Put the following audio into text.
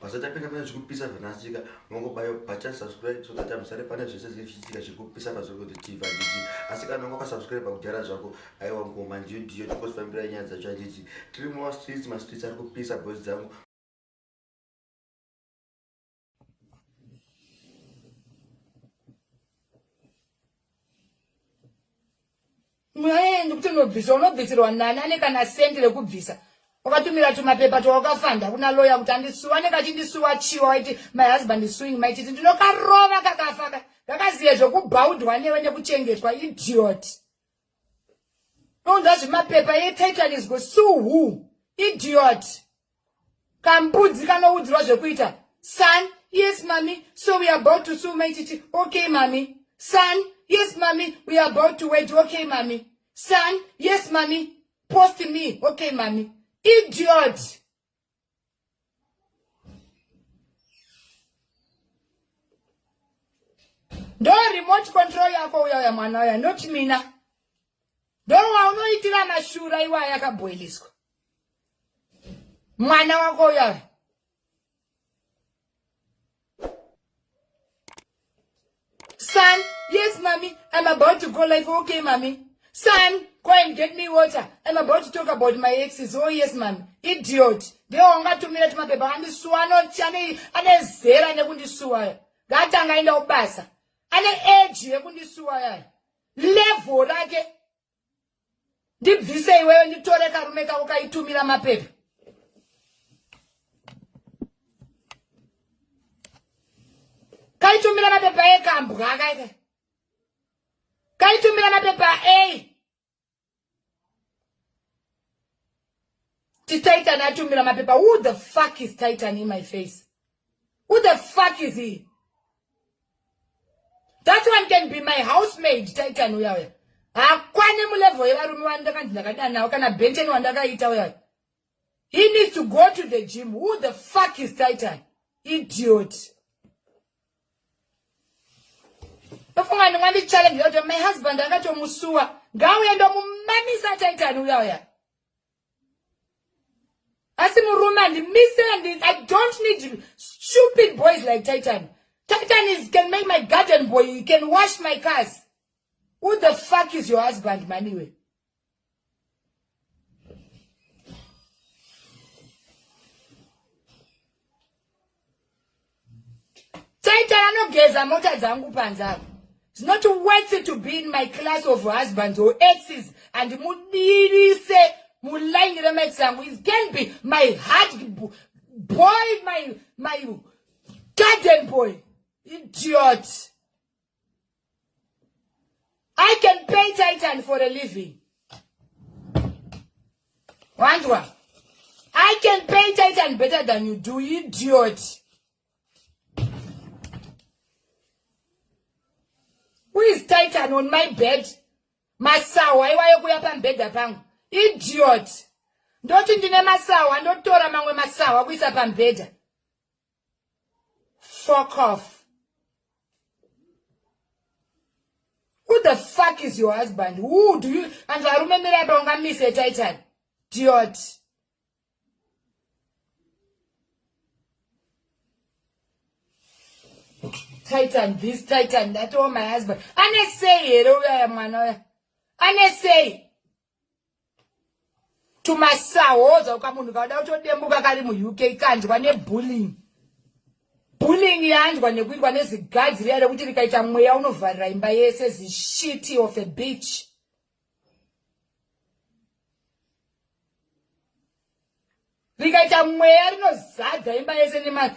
Basa tapinda pane zvekupisa zvanasika mongobayo button subscribe so that amusare pane zvese zvinenge zvichiitika zviri kupisa pazorikoti tv handiti asi kana unga wakasubscribe kudhara zvako aiwa ngoma ndiyo ndiyo tikosifambirai nyaya dzacho handiti tiri mumastreets mastreets ari kupisa boys dzangu mwaendi kuti unobvisa unobvisirwa nani ane kana sendi rekubvisa wakatumira tumapepa twawakafanda kuna loya kuti andisuwa anenge achindisuwa chiwa waiti my husband is suing maititi ndinokarova kakafaka kakaziye zvekubhaudhwa newe nekuchengetwa idiot nounza zvimapepa yetitan is go sue who idiot kambudzi kanoudzirwa zvekuita son yes mami so we are about to sue mai titi okay mami son yes mami we are about to wed okay mami son yes mami post me okay mami idiot ndo remote control yako uya uya mwana uya not mina ndo waunoitira mashura iwaya akabhoiliswa mwana wako uyari son yes mami im about to go life okay mami son go and get me water im about to talk about my exes oh yes mami idiot ndewaungatumira timapepa andisuwa anezera nekundisuwaya ngatanga aenda kubasa ane eji yekundisuwayaya level rake ndibvise iweyo nditore karume kako kaitumira mapepa kaitumira mapepa ekambwa kaika kaitumira mapepa a tititan atumira mapepa who the fuck is titan in my face Who the fuck is he? That one can be my housemaid, Titan uya uya. Hakwane mulevel yevarume vandakanzi ndakadanawo kana Benton wandakaita uya. He needs to go to the gym. Who the fuck is Titan? Idiot. Tofunga ndingandi challenge yokuti my husband akatomusuwa. Ngauye ndomumamisa Titan uya uya. asi murume andimise i don't need stupid boys like titan titan is can make my garden boy he can wash my cars who the fuck is your husband maniwe Taita anogeza mota dzangu panze apo. It's not worth to be in my class of husbands or exes and mudirise muline remax yangu. It can be my heart boy, my, my garden boy. Idiot. I can pay Titan for a living. Wandwa. I can pay Titan better than you do, you idiot. Who is Titan on my bed? Masawa iwayo kuya pambhedha pangu. Idiot. Ndoti ndine masawa ndotora mamwe masawa kuisa pambhedha. Fuck off. Who the fuck is your husband? Who do you... And varume mira donga miss a titan. Diot. Titan this, titan that, oh my husband. Ane sei here uyaya mwana uya? Ane sei? tumasahoza ukamunhu kauda kutodembuka kari muuk kanzwa nebulling bulling yanzwa nekuitwa nezigadzi riya rekuti rikaita mweya unovharira imba yese zishiti of a beach rikaita mweya rinozadza imba yese nema